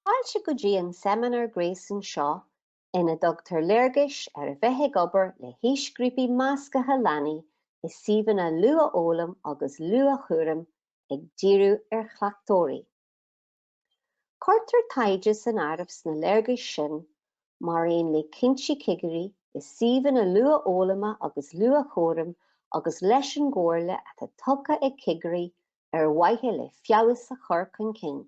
Fáilte go dtí an seimineár gréasáin seo ina dtugtar léargas ar a bheith ag obair le haoisghrúpaí meascaithe leanaí i suíomhanna luathfhoghlaim agus luathchúraim ag díriú ar chleachtóirí. Cuirtear taighde san áireamh sna léargais sin mar aon le cinntí cigirí i suíomhanna luathfhoghlama agus luathchúraim agus leis an gcomhairle atá tugtha ag cigirí ar mhaithe le feabhas a chur chun cinn.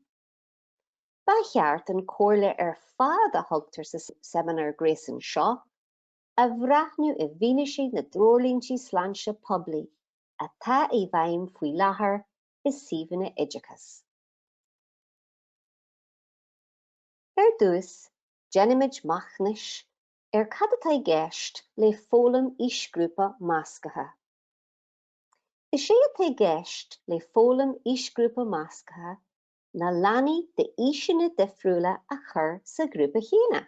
Ba cheart an comhairle ar fad a thugtar sa seimineár gréasáin seo a bhreathnú i bhfianaise na dtreoirlínte sláinte poiblí atá i bhfeidhm faoi láthair i suíomhanna oideachais. Ar dtús, déanfaimid machnamh ar cad atá i gceist le foghlaim aoisghrúpa measctha. Is é atá i gceist le foghlaim aoisghrúpa measctha ná leanaí d'aoiseanna difriúla a chur sa ghrúpa chéanna.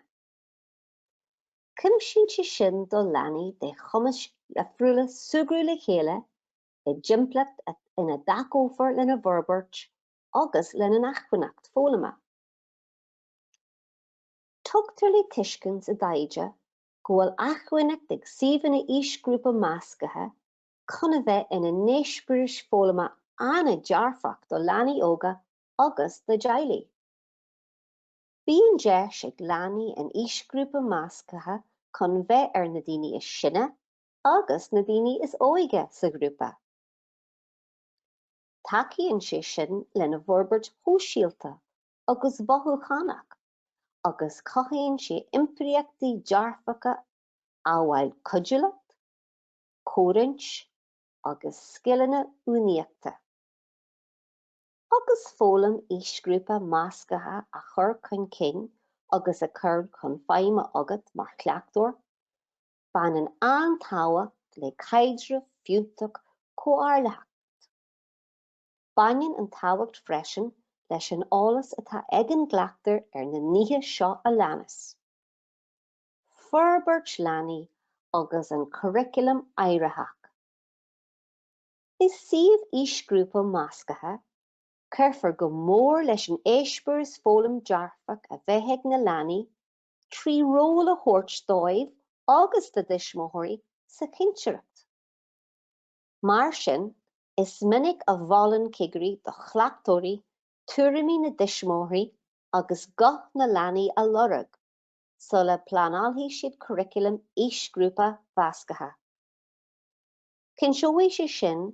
Cumasaíonn sé sin do leanaí de chumais dhifriúla súgradh le chéile i dtimpeallacht ina dtacófar lena bhforbairt agus lena n-acmhainneacht foghlama. Tugtar le tuiscint sa taighde go bhfuil acmhainneacht ag suíomhanna aoisghrúpa measctha chun a bheith ina n-eispéiris foghlama an-dearfach do leanaí óga agus dá dteaghlaigh. Bíonn deis ag leanaí in aoisghrúpa measctha chun bheith ar na daoine is sine agus na daoine is óige sa ghrúpa. Tacaíonn sé sin lena bhforbairt shóisialta agus mhothúchánach agus cothaíonn sé iompraíochtaí dearfacha amhail cuidiúlacht, comhroinnt agus scileanna uainíochta. Agus foghlaim aoisghrúpa measctha á chur chun cinn agus á chur chun feidhme agat mar chleachtóir, Baineann an-tábhacht le caidreamh fiúntach comhairlitheach. Baineann an-tábhacht freisin leis an eolas atá ag an gcleachtóir ar na nithe seo a leanas, forbairt leanaí agus an curaclam éiritheach. I suíomh aoisghrúpa measctha, cuirfear go mór leis an eispéireas foghlaim dearfach a bheidh ag na leanaí trí ról a thabhairt dóibh agus da dtuismitheoirí sa chinnteoireacht. Mar sin, is minic a mholann cigirí do chleachtóirí tuairimí na dtuismitheoirí agus guth na leanaí a lorg sula bpleanálfaidh siad curaclam aoisghrúpa mheasctha. Cinnteoidh sé sin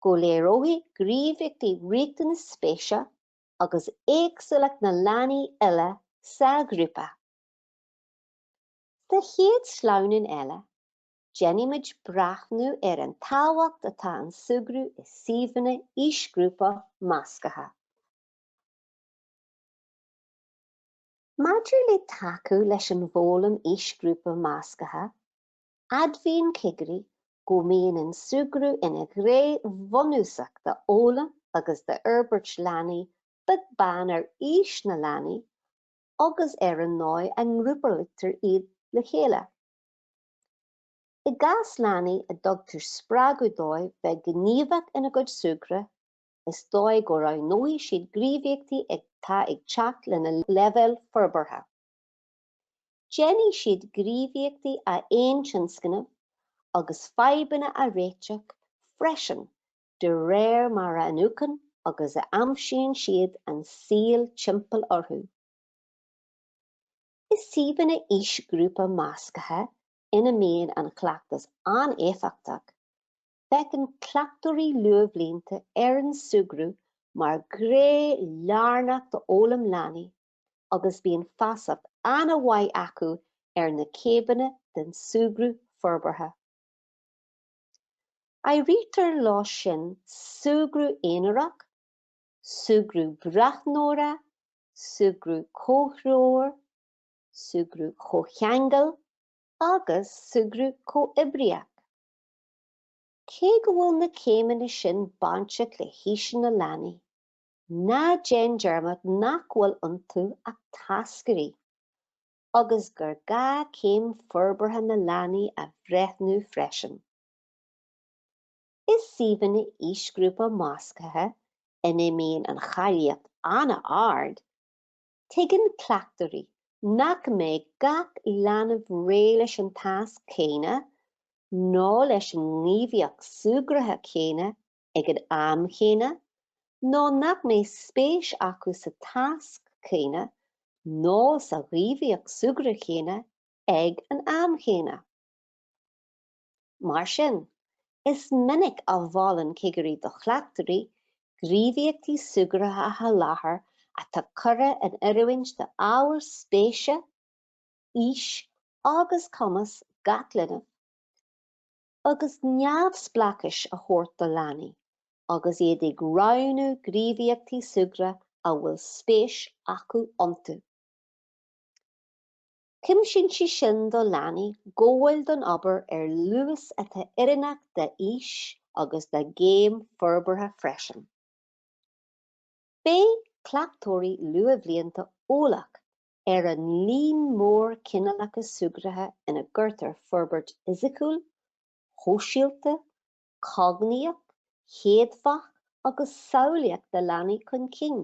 go léireoidh na gníomhaíochtaí riachtanais, spéise agus éagsúlacht na leanaí uile sa ghrúpa. Sa chéad sleamhnán eile, déanfaimid breathnú ar an tábhacht atá ag an súgradh i suíomhanna aoisghrúpa measctha. Maidir le tacú leis an bhfoghlaim aoisghrúpa measctha, Admhaíonn cigirí go mbíonn an súgradh ina ghné bhunúsach d'fhoghlaim agus d'fhorbairt leanaí, beag beann ar aois na leanaí agus ar an ndóigh a ngrúpaítear iad le chéile. I gcás leanaí a dtugtar spreagadh dóibh bheith gníomhach ina gcuid súgradh, is dóigh go roghnóidh siad gníomhaíochtaí atá ag teacht lena leibhéal forbartha. Déanfaidh siad gníomhaíochtaí a thionscnamh agus fadhbanna a réiteach freisin de réir mar a iniúchann agus a aimsíonn siad an saol timpeall orthu. I suíomhanna aoisghrúpa measctha ina mbíonn an chleachtas an-éifeachtach, breathnaíonn cleachtóirí luathbhlianta ar an súgradh mar ghné lárnach d'fhoghlaim leanaí agus bíonn feasacht an-mhaith acu ar na céimeanna den súgradh forbartha. Áirítear leo sin súgradh aonarach, súgradh breathnóra, súgradh comhthreomhar, súgradh chomhcheangail agus súgradh comhoibríoch. Cé go bhfuil na céimeanna sin bainteach le haoiseanna leanaí, Ná déan dearmad nach bhfuil iontu ach táscairí agus gur gá céim forbartha na leanaí a bhreithniú freisin. I suíomhanna aoisghrúpa measctha ina mbíonn an cháilíocht an-ard, tuigeann cleachtóirí nach mbeidh gach leanbh réidh leis an tasc céanna nó leis an ngníomhaíocht súgartha chéanna ag an am chéanna nó nach mbeadh spéis acu sa tasc céanna nó sa ghníomhaíocht súgartha chéanna ag an am chéanna. Mar sin, is minic a mholann cigirí do chleachtóirí gníomhaíochtaí súgartha a sholáthar atá curtha in oiriúint d'ábhair spéise, aois agus cumas gach linbh, agus neamhspleáchas a thabhairt do leanaí agus iad ag roghnú gníomhaíochtaí súgartha a bhfuil spéis acu iontu. Cumasaíonn sé sin do leanaí gabháil don obair ar luas atá oiriúnach dá n-aois agus dá gcéim forbartha freisin. Beidh cleachtóirí luathbhlianta eolach ar an líon mór cineálacha súgartha ina gcuirtear forbairt fhisiciúil, shóisialta, chognaíoch, chéadfach agus samhlaíoch na leanaí chun cinn.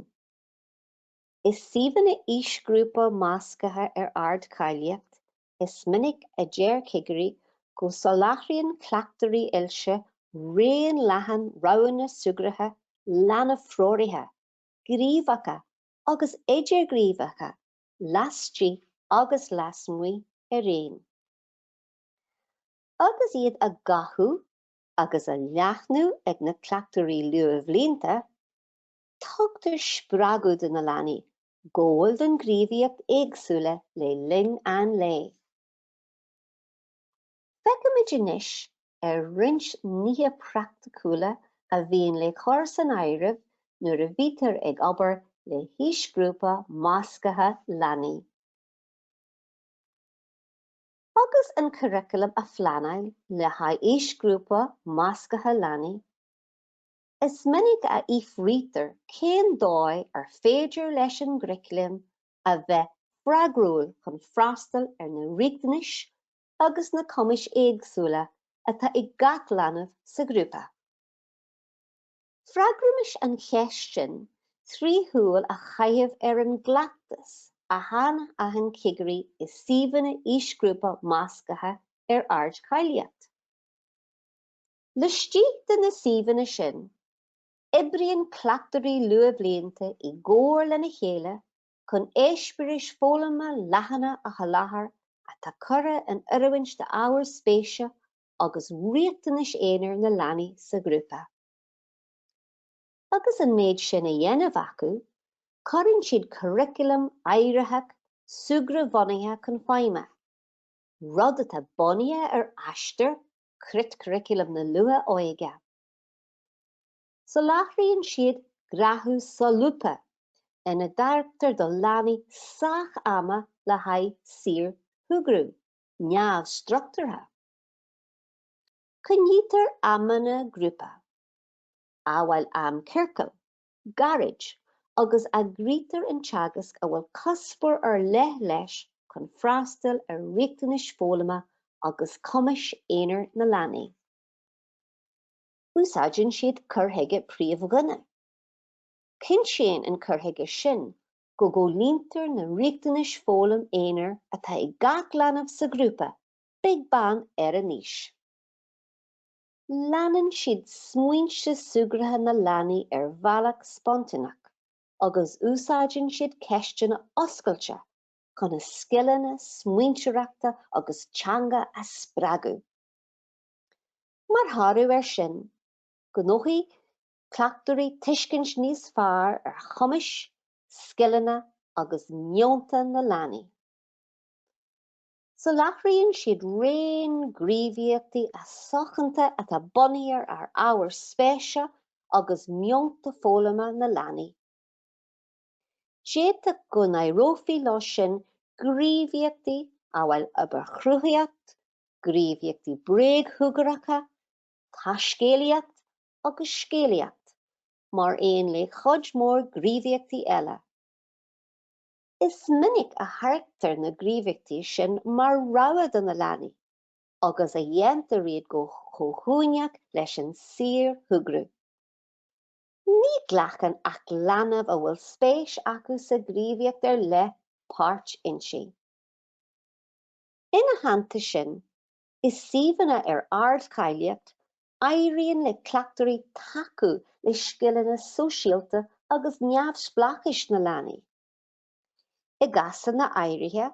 I suíomhanna aoisghrúpa measctha ar ardcháilíocht, is minic a deir cigirí go soláthraíonn cleachtóirí oilte raon leathan roghanna súgartha leanbh-threoraithe, gníomhacha agus idirghníomhacha laistigh agus lasmuigh araon, agus iad á gcothú agus á leathnú ag na cleachtóirí luathbhlianta, tugtar spreagadh do na leanaí gabháil do ghníomhaíochtaí éagsúla le linn an lae. Féachaimis anois ar roinnt nithe praiticiúla a bhíonn le cur san áireamh nuair a bhítear ag obair le haoisghrúpa measctha leanaí. Agus an curaclam á phleanáil le haghaidh aoisghrúpa measctha leanaí, is minic a fhiafraítear cén dóigh ar féidir leis an gcuraclam a bheith freagrúil chun freastal ar na riachtanais agus na cumais éagsúla atá ag gach leanbh sa ghrúpa. Freagraímis an cheist sin trí shúil a chaitheamh ar an gcleachtas a shainaithin cigirí i suíomhanna aoisghrúpa measctha ar ardcháilíocht. Laistigh de na suíomhanna sin, oibríonn cleachtóirí luathbhlianta i gcomhar lena chéile chun éispéiris foghlama leathana a sholáthar atá curtha in oiriúint d'ábhair spéise agus riachtanais aonair na leanaí sa ghrúpa. Agus an méid sin a dhéanamh acu, cuireann siad curaclam éiritheach súgradh-bhunaithe chun feidhme, rud atá bunaithe ar Aistear Creatchuraclam na luath-óige. Soláthraíonn siad gnáthamh solúbtha ina dtairgtear do leanaí sách ama le haghaidh saorshúgradh neamhstruchtúrtha. Coinnítear amanna grúpa, amhail am ciorcail, gairid, agus eagraítear an teagasc a bhfuil cuspóir ar leith leis chun freastal ar riachtanais foghlama agus cumais aonair na leanaí. Úsáideann siad cur chuige príomhdhuine. Cinntíonn an cur chuige sin go gcomhlíontar na riachtanais foghlama aonair atá ag gach leanbh sa ghrúpa, beag beann ar a n-aois. Leanann siad smaointe súgartha na leanaí ar bhealach spontáineach agus úsáideann siad ceisteanna oscailte chun a scileanna smaointeoireachta agus teanga a spreagadh. Mar thoradh air sin, gnóthaíonn cleachtóirí tuiscint níos fearr ar chumais, scileanna agus meonta na leanaí. Soláthraíonn siad raon gníomhaíochtaí suntasacha atá bunaithe ar ábhair spéise agus meonta foghlama na leanaí. D'fhéadfadh go n-áireofaí leo sin gníomhaíochtaí amhail obair chruthaitheach, gníomhaíochtaí bréagshúgartha, taiscéalaíocht agus scéalaíocht, mar aon le cuid mhór gníomhaíochtaí eile. Is minic a thairgtear na gníomhaíochtaí sin mar rogha do na leanaí agus a dhéantar iad go comhuaineach leis an saorshúgradh. Ní ghlacann ach leanaí a bhfuil spéis acu sa ghníomhaíocht ar leith páirt inti. Ina theannta sin, i suíomhanna ar ardcháilíocht, éiríonn le cleachtóirí tacú le scileanna sóisialta agus neamhspleáchais na leanaí. I gcásanna áirithe,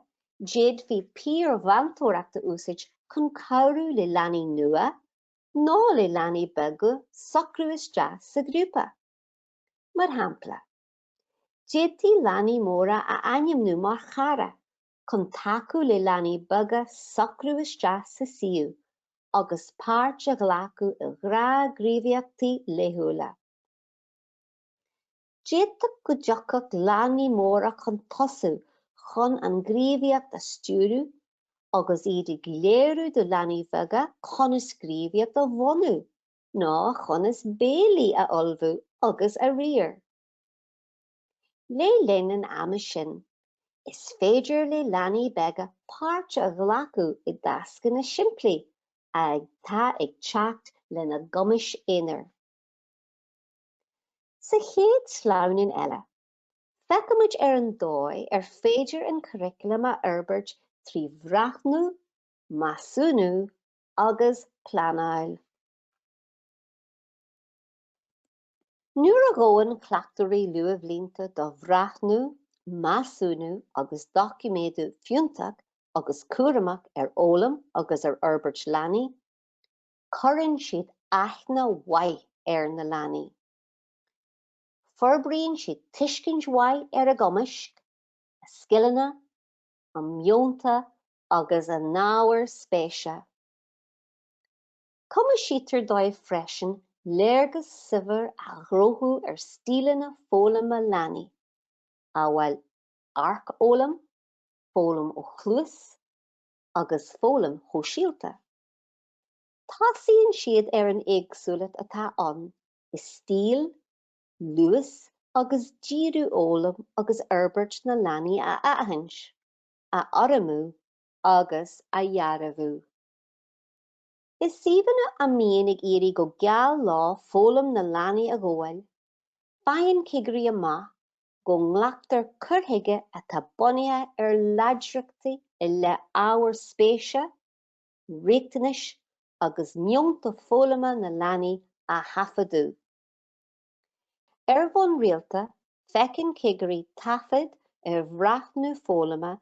d'fhéadfaí piarmheantóireacht a úsáid chun cabhrú le leanaí nua nó le leanaí beaga socrú isteach sa ghrúpa. Mar shampla, d'fhéadfaí leanaí móra a ainmniú mar chara chun tacú le leanaí beaga socrú isteach sa suíomh agus páirt a ghlacadh i ngnáthghníomhaíochtaí laethúla. D'fhéadfadh go dtiocfadh leanaí móra chun tosaigh chun an ghníomhaíocht a stiúradh agus iad ag léiriú do leanaí beaga conas gníomhaíocht a bhunú nó conas béilí a ullmhú agus a riar. Le linn an ama sin, is féidir le leanaí beaga páirt a ghlacadh i dtascanna simplí atá ag teacht lena gcumas aonair. Sa chéad sleamhnán eile, feicfimid ar an dóigh ar féidir an curaclam a fhorbairt trí bhreathnú, measúnú agus pleanáil. Nuair a ghabhann cleachtóirí luathbhlianta do bhreathnú, measúnú agus doiciméadú fiúntach agus cúramach ar fhoghlaim agus ar fhorbairt leanaí, Cuireann siad aithne mhaith ar na leanaí. Forbraíonn siad tuiscint mhaith ar a gcumais, a scileanna, a meonta agus a n-ábhair spéise. Cumasaítear dóibh freisin léargas saibhir a ghnóthú ar stíleanna foghlama leanaí, amhail amharc-fhoghlaim, foghlaim ó chluas agus foghlaim shóisialta. Tosaíonn siad ar an éagsúlacht atá ann i stíl, luas agus díriú fhoghlaim agus fhorbairt na leanaí a aithint, a urramú agus a dhearbhú. I suíomhanna a n-éiríonn go geal leo foghlaim na leanaí a ghabháil, faigheann cigirí amach go nglactar cur chuige atá bunaithe ar láidreachtaí i leith ábhair spéise, riachtanais agus meonta foghlama na leanaí a thaifeadadh. Ar bhonn rialta, feiceann cigirí taifid ar bhreathnú foghlama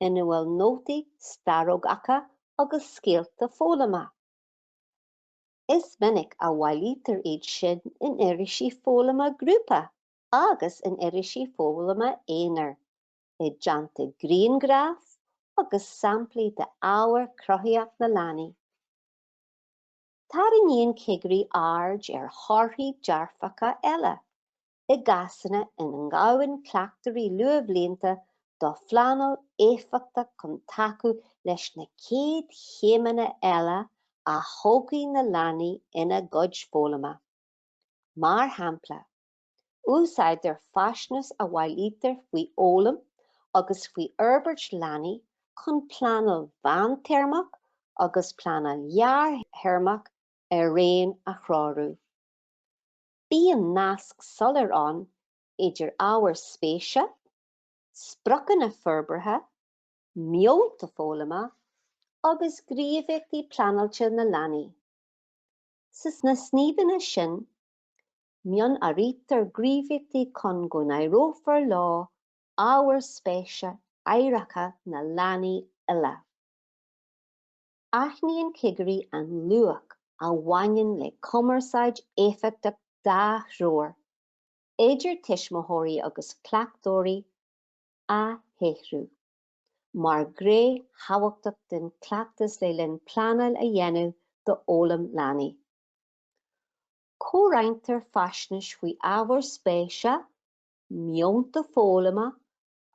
ina bhfuil nótaí starógacha agus scéalta foghlama. Is minic a bhailítear iad sin in irisí foghlama grúpa agus in irisí foghlama aonair. i dteannta grianghraif agus samplaí d'obair chruthaitheach na leanaí. Tarraingíonn cigirí aird ar thorthaí dearfacha eile i gcásanna ina ngabhann cleachtóirí luathbhlianta do phleanáil éifeachtach chun tacú leis na céad chéimeanna eile a thógfaidh na leanaí ina gcuid foghlama, mar shampla. Úsáidtear faisnéis a bhailítear faoi fhoghlaim agus faoi fhorbairt leanaí chun pleanáil mheántéarmach agus pleanáil ghearrthéarmach araon a threorú. Bíonn nasc soiléir ann idir ábhair spéise, spriocanna forbartha, meonta foghlama agus gníomhaíochtaí pleanáilte na leanaí. Sna suíomhanna sin Mionathraítear gníomhaíochtaí chun go n-áireofar leo ábhair spéise éiritheacha na leanaí uile. Aithníonn cigirí an luach a bhaineann le cumarsáid éifeachtach dhá threo, idir tuismitheoirí agus cleachtóirí, a shaothrú mar ghné thábhachtach den chleachtas le linn pleanáil a dhéanamh d'fhoghlaim leanaí. Comhroinntear faisnéis faoi ábhair spéise, meonta foghlama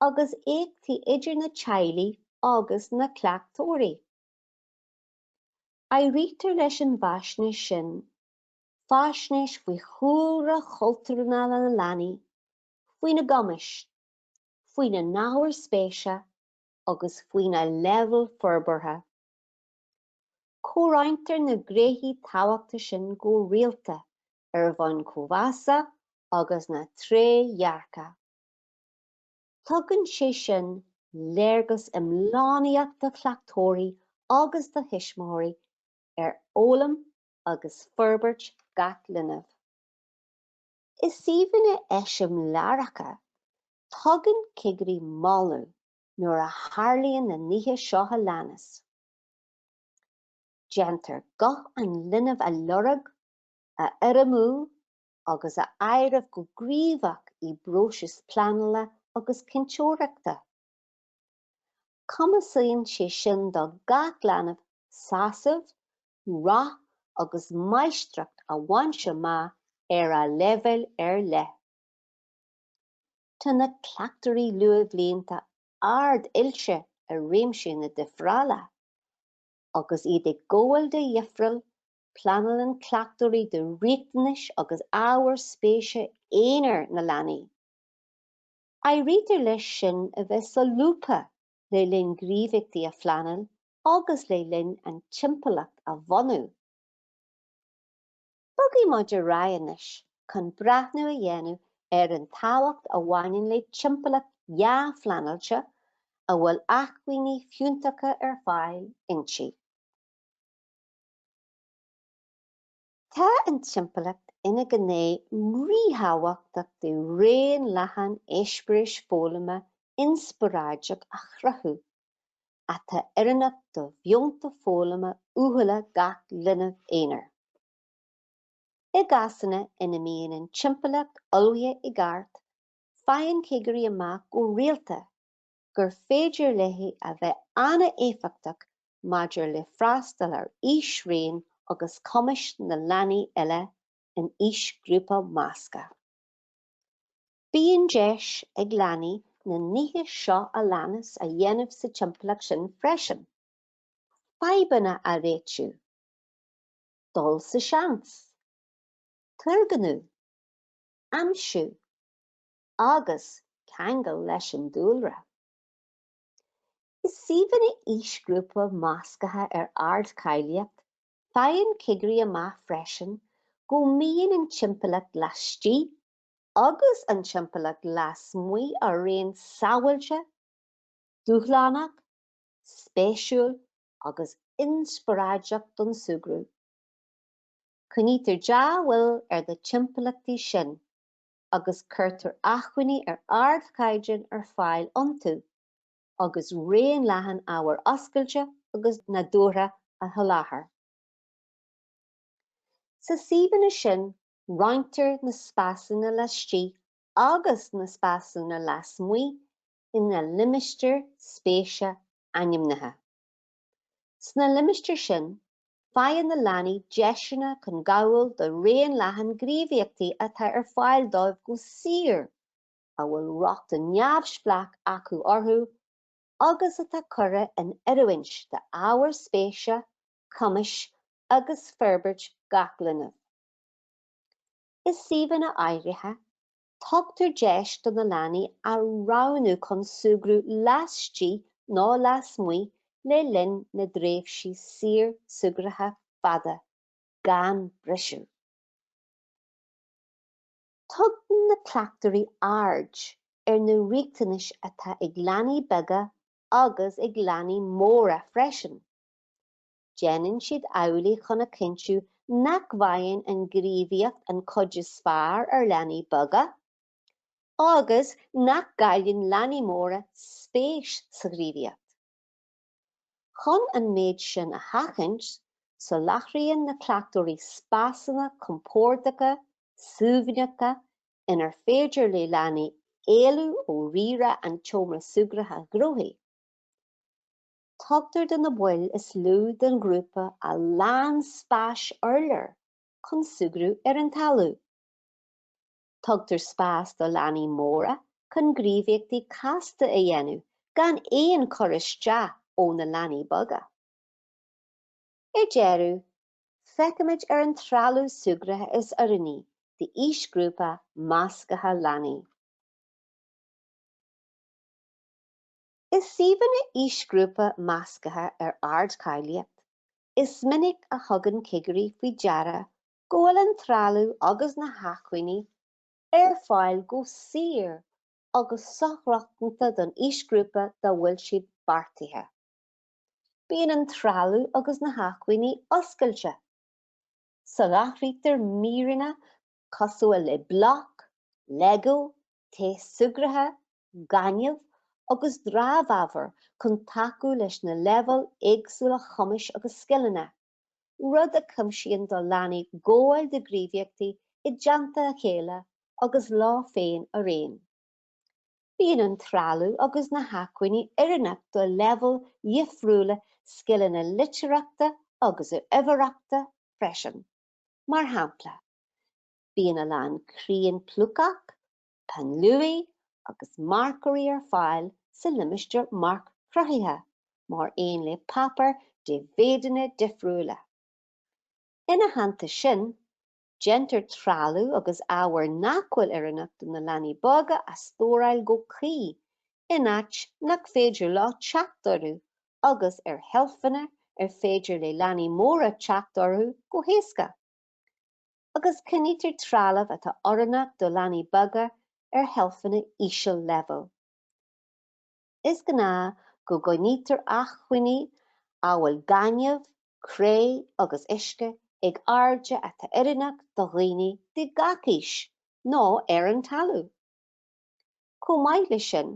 agus éachtaí idir na teaghlaigh agus na cleachtóirí. Áirítear leis an bhfaisnéis sin faisnéis faoi chúlra cultúrtha na leanaí, faoina gcumais, faoina n-ábhair spéise agus faoina leibhéal forbartha. Comhroinntear na gnéithe tábhachtacha sin go rialta ar bhonn comh-mheasa agus na trédhearcachta. Tugann sé sin léargas iomlánaíoch do chleachtóirí agus do thuismitheoirí ar fhoghlaim agus forbairt gach linbh. I suíomhanna eiseamláireacha, tugann cigirí moladh nuair a tharlaíonn na nithe seo a leanas. Déantar guth an linbh a lorg, a urramú agus a áireamh go gníomhach i bpróisis pleanála agus cinnteoireachta. Cumasaíonn sé sin do gach leanbh sásamh, rath agus máistreacht a bhaint amach ar a leibhéal ar leith. Tá na cleachtóirí luathbhlianta ard-oilte i réimse na difreála, agus iad ag gabháil de dhifreáil, pleanálann cleachtóirí do riachtanais agus ábhair spéise aonair na leanaí. Áirítear leis sin a bheith solúbtha le linn gníomhaíochtaí a phleanáil agus le linn an timpeallacht a bhunú. Bogfaidh muid ar aghaidh anois chun breathnú a dhéanamh ar an tábhacht a bhaineann le timpeallacht dhea-phleanáilte a bhfuil acmhainní fiúntacha ar fáil inti. Tá an timpeallacht ina gné ríthábhachtach de raon leathan eispéiris foghlama inspioráideach a chruthú. atá oiriúnach do mheonta foghlama uathúla gach linbh aonair. I gcásanna ina mbíonn an timpeallacht ullmhaithe i gceart, faigheann cigirí amach go rialta gur féidir léi a bheith an-éifeachtach maidir le freastal ar aoisraon agus cumais na leanaí uile in aoisghrúpa measctha. Bíonn deis ag leanaí na nithe seo a leanas a dhéanamh sa timpeallacht sin freisin, fadhbanna a réiteach, dul sa seans, turgnamh, aimsiú agus ceangal leis an dúlra. I suíomhanna aoisghrúpa measctha ar ardcháilíocht, faigheann cigirí amach freisin go mbíonn an timpeallacht laistigh agus an timpeallacht lasmuigh araon sábháilte, dúshlánach, spéisiúil agus inspioráideach don súgradh. Coinnítear dea-bhail ar na timpeallachtaí sin agus cuirtear acmhainní ar ardchaighdeán ar fáil iontu agus raon leathan ábhair oscailte agus nádúrtha a sholáthar. Sna suíomhanna sin Roinntear na spásanna laistigh agus na spásanna lasmuigh ina limistéir spéise ainmnithe. Sna limistéir sin, faigheann na leanaí deiseanna chun gabháil do raon leathan gníomhaíochtaí atá ar fáil dóibh go saor, a bhfuil rochtain neamhspleách acu orthu, agus atá curtha in oiriúint d'ábhair spéise, cumais agus forbairt gach linbh. I suíomhanna áirithe, tugtar deis do na leanaí a roghnú chun súgradh laistigh nó lasmuigh le linn na dtréimhsí saorshúgartha fada, gan briseadh. Tugann na cleachtóirí aird ar na riachtanais atá ag leanaí beaga agus ag leanaí móra freisin. Déanann siad amhlaidh chun a chinntiú nach bhfaigheann an ghníomhaíocht an chuid is fearr ar leanaí beaga agus nach gcailleann leanaí móra spéis sa ghníomhaíocht. Chun an méid sin a sheachaint, soláthraíonn na cleachtóirí spásanna compórdacha, suaimhneacha inar féidir le leanaí éalú ó rírá an tseomra súgartha ghnóthaigh. Tugtar do na baill is lú den ghrúpa a lán spáis urláir chun súgradh ar an talamh. Tugtar spás do leanaí móra chun gníomhaíochtaí casta a dhéanamh gan aon chur isteach ó na leanaí beaga. Ar deireadh, feicimid ar an trealamh súgartha is oiriúnaí d'aoisghrúpa measctha leanaí. I suíomhanna aoisghrúpa measctha ar ardcháilíocht, is minic a thugann cigirí faoi deara go bhfuil an trealamh agus na hacmhainní ar fáil go saor agus sorochtana don aoisghrúpa dá bhfuil siad beartaithe. Bíonn an trealamh agus na hacmhainní oscailte. Soláthraítear míreanna cosúil le bloic, lego, Taos súgartha, gaineamh agus dramhábhar chun tacú leis na leibhéil éagsúla chumais agus scileanna, rud a chumasaíonn do leanaí gabháil do ghníomhaíochtaí i dteannta a chéile agus leo féin araon. Bíonn an trealamh agus na hacmhainní oiriúnach do leibhéil dhifriúla scileanna litearthachta agus uimhearthachta freisin, mar shampla, Bíonn a lán crián plucach, peann luaidhe agus marcóirí ar fáil sa limistéar marc-chruthaithe, mar aon le páipéar de mhéideanna difriúla. Ina theannta sin, déantar trealamh agus ábhair nach bhfuil oiriúnach do na leanaí beaga a stóráil go cuí in áit nach féidir leo teacht orthu agus ar sheilfeanna ar féidir le leanaí móra teacht orthu go héasca. agus coinnítear trealamh atá oiriúnach do leanaí beaga ar sheilfeanna íseal-leibhéil. Is gnáth go gcoinnítear acmhainní amhail gaineamh, cré agus uisce ag airde atá oiriúnach do dhaoine de gach aois nó ar an talamh. Chomh maith leis sin,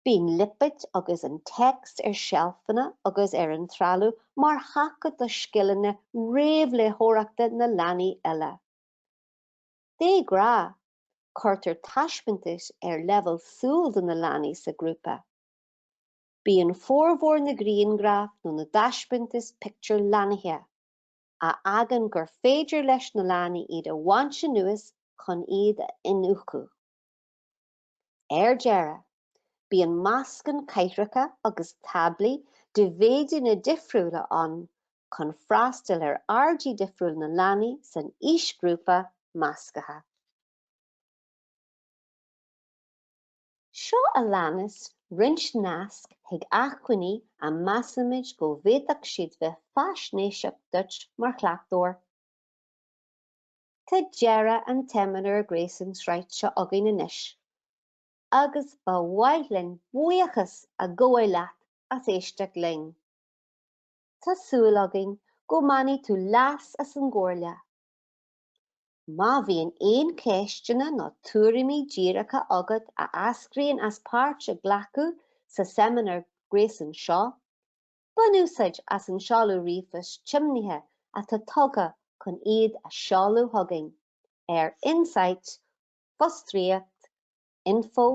Bíonn lipéid agus an téacs ar sheilfeanna agus ar an trealamh mar thaca do scileanna réamhléitheoireachta na leanaí eile. De ghnáth, cuirtear taispeántais ar leibhéal súl do na leanaí sa ghrúpa. Bíonn formhór na grianghraf nó na dtaispeántas pictiúr lannaithe, a fhágann gur féidir leis na leanaí iad a bhaint anuas chun iad a iniúchadh. Ar deireadh, bíonn meascan cathaoireacha agus táblaí de mhéideanna difriúla ann chun freastal ar airdí difriúla na leanaí san aoisghrúpa measctha. Seo a leanas roinnt nasc chuig acmhainní a measaimid go bhféadfadh siad bheith faisnéiseach duit mar chleachtóir. Tá deireadh an tSeimineáir Gréasain Sraith seo againn anois agus ba mhaith linn buíochas a ghabháil leat as éisteacht linn. Tá súil againn go mbainfidh tú leas as an gcomhairle. Má bhíonn aon cheisteanna nó tuairimí díreacha agat a eascraíonn as páirt a ghlacadh sa Seimineár Gréasain seo, Bain úsáid as an seoladh ríomhphoist tiomnaithe atá tugtha chun iad a seoladh chugainn ar insight fostríoc info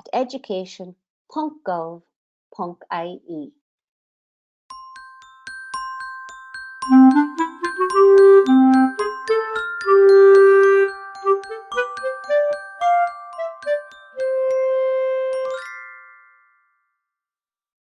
at education.gov.ie.